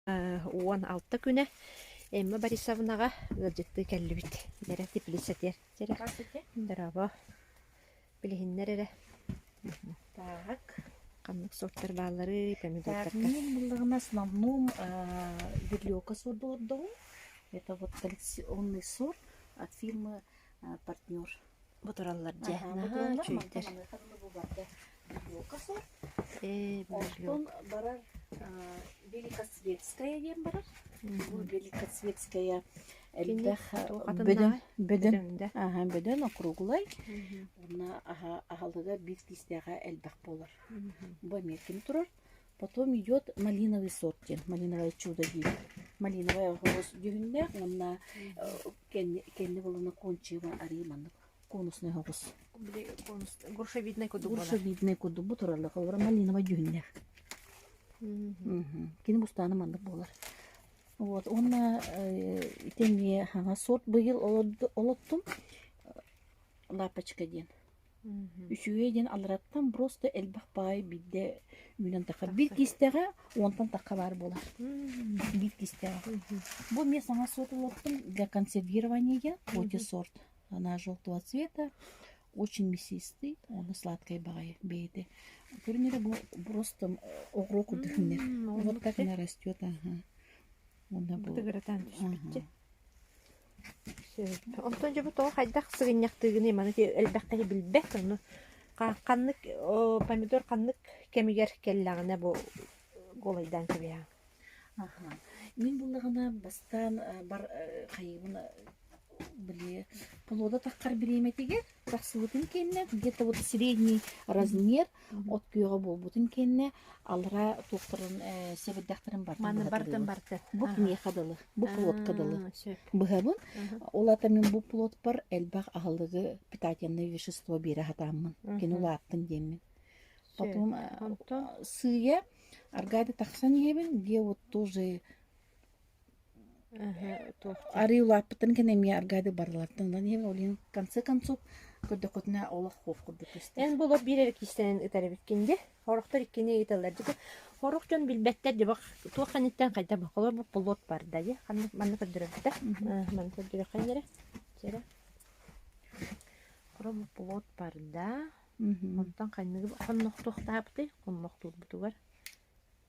уон алта күнэ Эмма Борисовнаҕа ыалдьыттыы кэллибит. Бэрэ Тифлис этиэр дьэрэ. Дорообо. Билиһиннэр эрэ. Так. Ханнык суоттар баалларый, помидордарга? Мин булларнас намнум верлёка суорду отдаву. Это вот коллекционный сур от фирмы партнер бу тураллар дьэ чүйтэр э оттон барар великосветская диэн барар великосветская элбэх бөдөҥ аха бөдөҥ округлай уонна аһылыга биир тиистээҕэ элбэх буолар бу эмиэ ким турар Потом идет малиновый сорти, малиновое чудо диир. Малиновый оҕус дьүһүннээх уонна кэнни кэнни булуна кончива арыы маннык конусный оҕус. Били конус грушевидный кудук буолар. Грушевидный кудук бу туралла холбора малиновай дьүһүннээх. Кини бустааны маннык буолар. Вот уонна ити эмиэ хаҥас сорт быйыл олоттум лапочка диэн. Үчүгэй диэн алараттан просто элбэх баай биирдэ үүнэн таххар. Биир Тахсар. кистэҕэ уонтан тахха баар буолар. Биир кистэҕэ. Бу мне сама сорт лоттом для консервирования отис сорт. Она желтого цвета, очень мясистый, оны сладкай баҕайы бэйэтэ. Көрүнэрэ бу просто оҕро курдук үннэр. М, Вот как оннук она растет, ага. Онна бу. Бытыгыратан түспүтчэ. Онтон дьону тоҕо хайдах сыгынньахтыыгыный, маны элбэххэ иһи билбэт, ону ханнык помидор ханнык кэмигэр кэллэҕинэ бу голайдаан кэбиһэҕин? Аха. Мин буллаҕына бастаан бар хайыыбын били полода таххар бириэмэтигэр Тахсыбытын кэннэ где-то вот средний размер от күөҕэ буолбутун кэннэ алара туохтарын э, сэбирдэхтэрин бартын Маны быһа бартын тыылын. барды. Бу Ага. киниэхэ дылы, бу плотка дылы. Аа, сөп. Быһабын, Мгм. ол ата мин бу плотпар элбэх аһылыгы питательное вещество биэрэ сатааммын, кини Мгм. улааттын диэммин. Сөп. Потом э, Онтон сыыйа аргаада тахсан иһэбин, где вот тоже Арыы улааппыттарын кэннэ эмиэ аргаадык бардылартан ылан иһэбин ол иһин в конце концов көрдөххүтүнэ олох хуох курдук көстөр эн булор биир эрэ киистэнэн ытар эбиккин дьэ хорохтор иккини ыыталлар дьэ хорох дьон билбэттэр дьэ туох кэнниттэн хайдах холобур болот барда дьэ ханнык манна көрдөрөбүтэ маны көрдөрөххүнэ эрэ чэрэ хоробур болот барда онтон ханнык хоннохтуохтаабытый хоннохтуурбутугар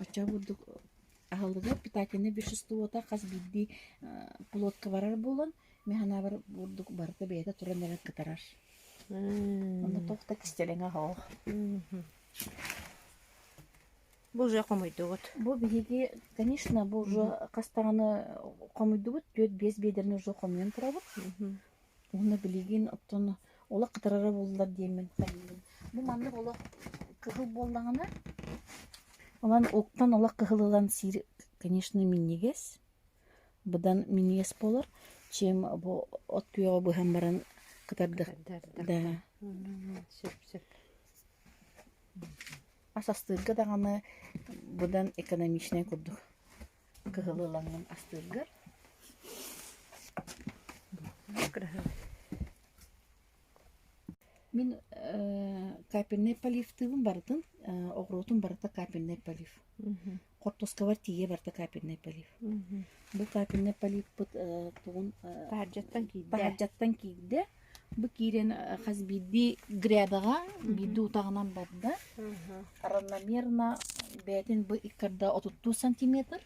Оччо бурдук аһылыгар питательное веществота хас биирдии плотка барар буолан, ми санаабар бурдук барыта бэйэтэ туран эрэ кытарар. Онно туох да кистэлэҥэ оһох. Бу уже хомуйдугут. Бу биһиги, конечно, бу уже хас даҕаны хомуйдубут, түөрт-биэс биэдэрин уже хомуйан турабыт. Уонна билигин оттон олох кытарара буоллар диэммин хайыыбын. Бу маннык олох кыһыл буоллаҕына, онон оттон олох кыһыл ылан сиир, конечно, минньигэс, быдан минньигэс буолар, чем бу от күөҕэ быһан баран кытардык да сөп сөп. Ас астыырга даҕаны быдан экономичнай курдук. кыһыл ылаҥҥын астыыргар мин капельнай поливтыыбын барытын оҕуруотум барыта капельнай полив хортуоскабар тиийэ барыта капельнай полив бу капельнай поливпыт тугун паһардьаттан киирдэ Бу киирэн хас биирдии грээбэҕэ биирдии утаҕынан барда. Равномерно бэйэтин бу иккарда отуттуу сантиметр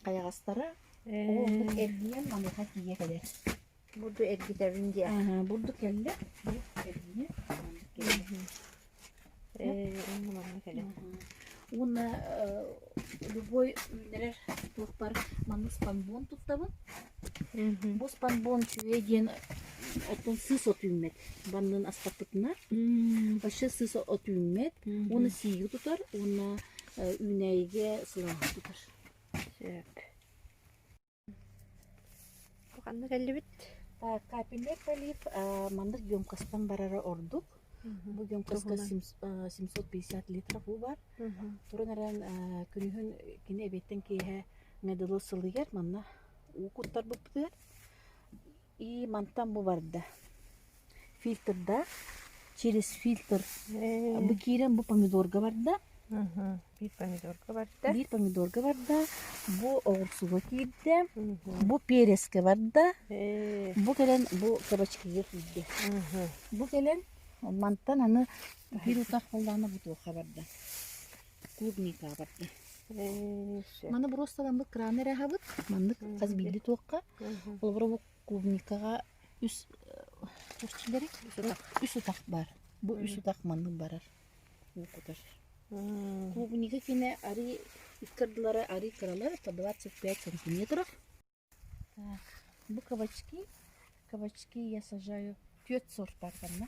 хайаҕастара ол ордук эргийэн маныаха тиийэ кэлэр. Бурду эргитэбин диэ. Аһа, бурду кэллэ. Бурду эргийэ. маннык кэллэ. Э, онно манна кэлэн. Мгм. Уонна э, любой үүннэрэр туохпар манна спанбон туттабын. Мгм. Бу спанбон үчүгэй диэн оттон сыс от үүммэт. Баннын астаппытынар. М, Вообще сыс от үүммэт. мгм. Уонна сииги тутар. Уонна э, үүнээйигэ сылааһы тутар. Сөп. Ханна кэллибит? Капельнай пролив маннык емкостан барара ордук. Бу емкоска семьсот пятьдесят литров баар. Туран эрэн күнүһүн кини эбиэттэн киэһэ медылы сылыйар манна уу куттарбыппытыгар Ии, мантан бу барда. Фильтрдаах, через фильтр. Абы киирэн бу помидорга барда. Биир помидорга барда. Биир помидорга барда. Бу оҕурсуга киирдэ. Бу переске барда. Бу кэлэн бу кабачкига киирдэ. Бу кэлэн мантан аны бирусах холлаана бутуохха барда. Клубника барда. Маны буруосталаммыт крана эрэһабыт. Маннык хас билди туохха. Олобура бу клубникаҕа үс көрсүүлэри үс утах баар. Бу үс утах маннык барар, уу кутар. Клубнига кинэ арыы икки ардылара арыы кыралар это двадцать пять сантиметров. Так, бу кабачки. Кабачки я сажаю. Түөрт сорт бар манна.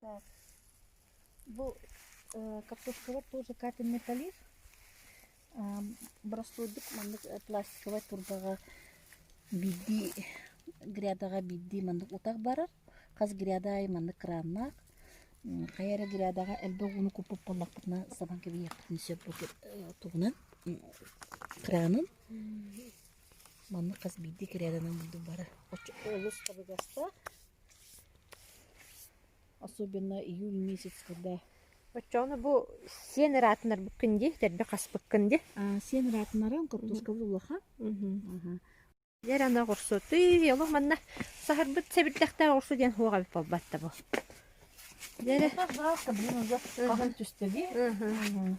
Так. Бу э, картошковай тур закатанный полив. Ам, Бороссуойдук маннык э, пластиковай турбаҕа биирдии грядаҕа биирдии маннык утах барар. Хас гряда айы маннык краннаах. М, Хайа эрэ грядаҕа элбэх ууну куппут буоллахпытына сабан кэбиһиэхпитин сөп бу кир- э, тугунан м, кранын. Маннык хас биирдии гряданан бурдук барар. Оччо олус табыгастаах. Особенно июль месяц, когда Оччоҕуна бу сиэн ыраатынарбыккын дии, тэрбэ хаспыккын дии. а, сиэн ыраатынарым куртузкабыт улахан. Мгм. Аха. Дьэ эрэ аны оҕурсу тый олох манна саһарбыт сэбирдэхтээх оҕурсу диэн суох эбит буолбат да бу. Дьэ эрэ. Хаалта блин уже Мгм. хаһан түсте дии. Мгм. Мгм.